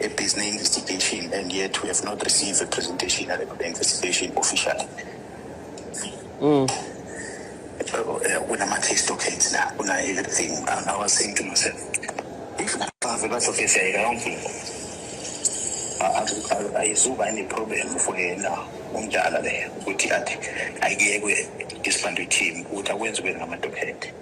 ebhizinisi investigation and yet we have not received a presentation yale investigation officially mm. kunama-case documents la kuna-everything and i was saying to myself if bave bazofezeka yonke into ayizuba ine-problem for yena umdala leyo ukuthi athi ayekwe disbandwe team ukuthi akwenziwe ngamadokhente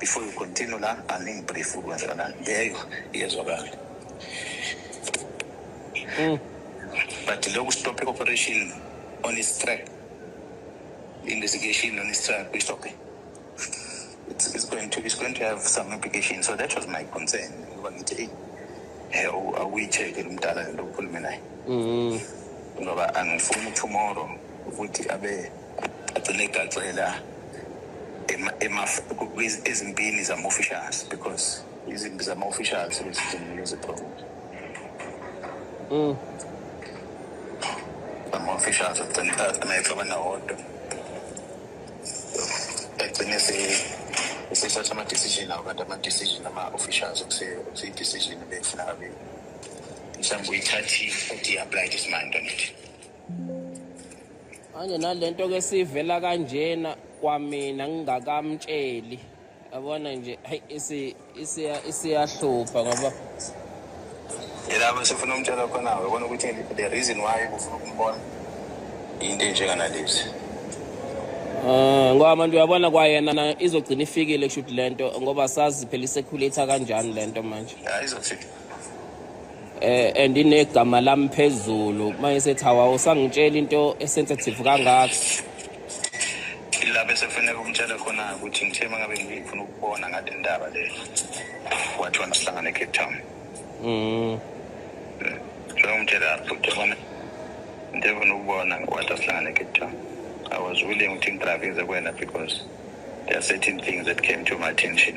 before you continue la angingibrief ukwenza la leyo iyezwakala mm. but loku stop operation on his track investigation on his track we stop it it's, it's going to it's going to have some implications so that was my concern ngoba ngithi eyi eh, awuyicheke lo mdala lento okhulume naye mm-hmm. ngoba angifuni tomorrow ukuthi abe agcine egacela ezimpini zama-officials because izimpi zama-officials lezizimleziphomo mm. ama-officials agcine ecabana wodwa agcine esesatha ama-decision awo kanti ama-decision ama-officials okuseyi-decision ebefuna kabili mhlawumbe uyithathile uthi i-aplayile isimanje ngithi manje nalento ke sivela kanjena kwamina ngingakamtsheli yabona nje hayi isi isiya isiyahlupha ngoba yilapho sifuna umtshela khona yabona ukuthi the reason why kufuna ukumbona into enjenganalezi Eh ngoba manje uyabona kwayena izogcina ifikile kushuthi lento ngoba sazi phela isekhulitha kanjani lento manje. Hayi izofika. eh and inegama lami phezulu manje sethi hawa usangitshela into esensitive kangaka lapho sekufanele kumtshela khona ukuthi ngithe uma ngabe ngifuna ukubona ngale ndaba le wathi wona sihlangana ecape town um sengimtshela ukuthi bona into efuna ukubona wathi asihlangana ecape town i was willing ukuthi ngidrive ngize kwena because there are certain things that came to my attention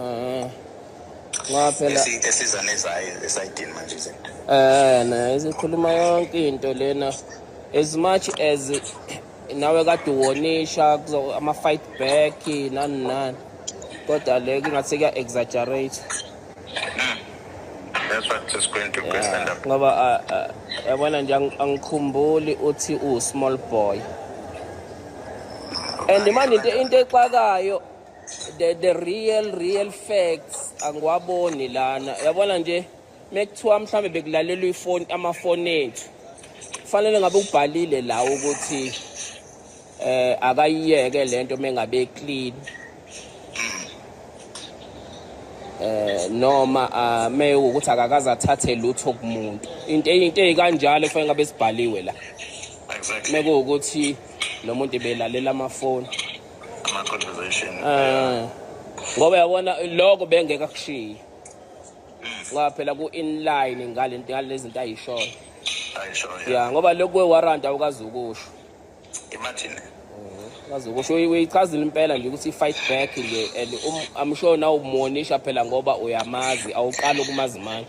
Ah. Ngoba phela Esi- esiza nezayo esayidini manje izinto eh nayo isikhuluma yonke into lena as much as nawe kade uwonisha kuzo- ama fight back nani nani kodwa le kungathi kuya exaggerate that's what is going to go stand up ngoba ah, ah, yabona nje ang- angikhumbuli uthi u small boy and manje into into exakayo the, the real real facts angiwaboni lana yabona nje mekuthiwa mhlambe bekulalelwa ifoni amafoni ethu kufanele ngabe ubhalile la ukuthi eh akayiyeke lento mengabe clean eh noma ah, me ukuthi akakaze athathe lutho kumuntu into into ezikanjalo kufanele ngabe sibhaliwe la mekuwukuthi nomuntu ebelalela amafoni ama-conversation um ngoba yabona loko bengeke akushiye ngoba phela ku-inline ngale zinto ayishoyo ya ngoba lokhu kwe-warrant awukazi ukusho imagine kazi ukusho uyichazile impela nje ukuthi i-fight back nje and um, i'm sure nawumumonisha phela ngoba uyamazi awuqali ukumazi manje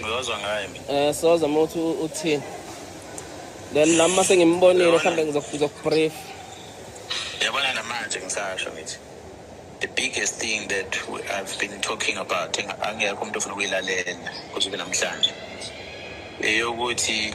ngizozwa ngaye mina eh soza uma uthi uthini then nami uma sengimbonile mhlawumbe ngizokubrief yabona namanje ngisasho ngithi the biggest thing that we, I've been talking about angekho umuntu ofuna ukuyilalela kuze kube namhlanje eyokuthi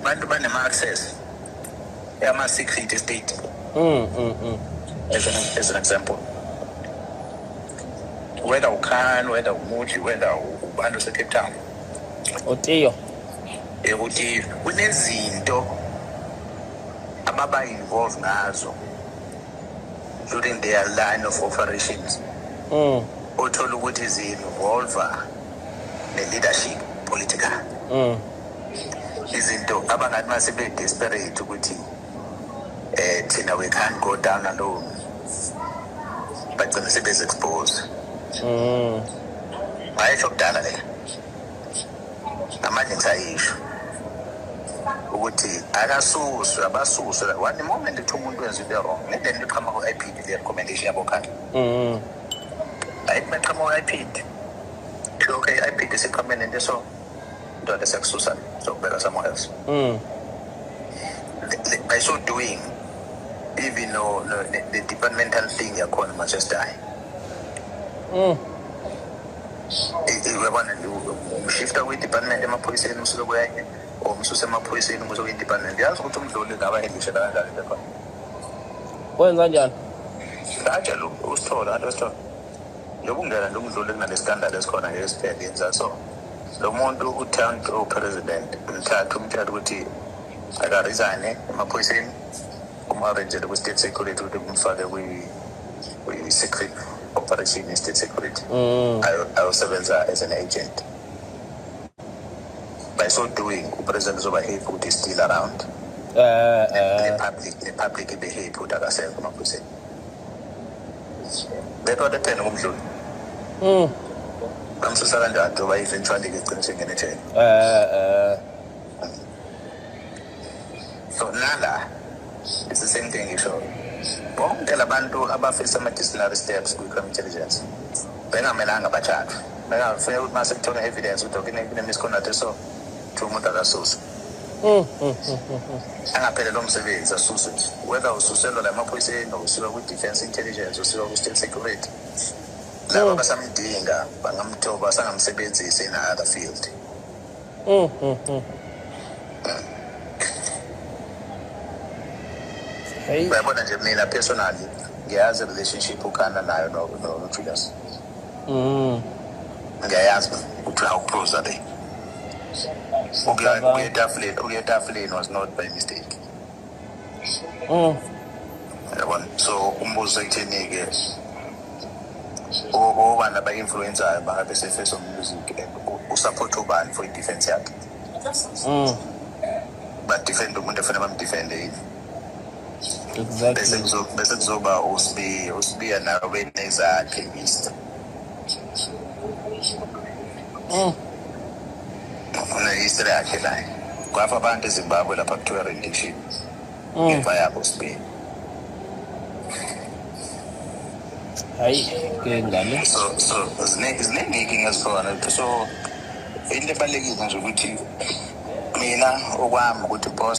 abantu banema access yama secret estate mm mm mm as an, as an example whether ukhan whether umuthi whether ubantu secape town otiyo ekuthi kunezinto ababa involved ngazo during their line of operations mm othola ukuthi zi involve ne leadership political mm izinto abangathi uma sebe-desperate ukuthi um thina we can't go down alone bagcine sebezi-expose mm. ngayesho kudala le namanje ngisayisho ukuthi akasuswe abasuswe one moment ethi umuntu wenza into wrong ngende nto iqhama ku-ipd le recommendation yabokhanda mm. ayithi meqhama ku-ipd okay i-ipd siqhame nento so ndoda siyakususa sokubeka somewhere else mm. by so doing even no, no, the, the departmental thing yakhona manchester high mm. uyabona umshifta kwi-department emaphoyiseni umsuke kwenye or umsuse emaphoyiseni umuse kwi-department yazi ukuthi umdluli ngaba edlishela kanjani lekhona wenza njani ngajela usithola anti wesithola yokungena ndumdlule kunalesitandard esikhona ngesiphelisa so lo muntu uthand upresident mthatha umtshela ukuthi akarisane emaphoyiseni umu-arrangele kwi-state security ukuthi kumfake kwi-secret operation i-state security mm. ayosebenza as an agent by so doing upresident uzoba happy ukuthi still around eh, eh. ne-public ne-public ibe happy ukuthi akasekho emaphoyiseni Ngekho lethena kumdluli. Mm. Bamsusa kanjani njengoba eventually ke gcina sengene ejele. Eh eh. So nala it's the same thing ngisho. Bonke labantu abafisa ama disciplinary steps kwi crime intelligence. Bengamelanga bathathwe. Bengafanele ukuthi mase kuthola evidence ukuthi okune misconduct so umuntu akasusa. angaphelelwa umsebenzi asuswe whether ususelwa la maphoyiseni or usiwa kwi-defense intelligence usiwa kwi-state security laba basamdinga bangamthoba sangamsebenzisa in other field Hey. uyabona nje mina personally ngiyazi relationship ukhana nayo no- no- nojulius ngiyayazi ukuthi awuphuza le ukuya etafuleni ukuya etafuleni was not by mistake mm. yabona so umbuzo ekutheni-ke obani aba-influensayo bangabe se-face of music and usupport ubani for i-defense yakhe mm. badefende umuntu efanele bamdefende yini bese kuzo- bese kuzoba uSibiya uSibiya nawe benezakhe Easter Mm. ufuna Easter yakhe naye kwafa abantu eZimbabwe lapha kuthiwa rendition Mm. ngemva yabo uSibiya hayi ke ngane so so ziningi ziningi inkinga ezikhona so into ebalulekile nje ukuthi mina okwami ukuthi boss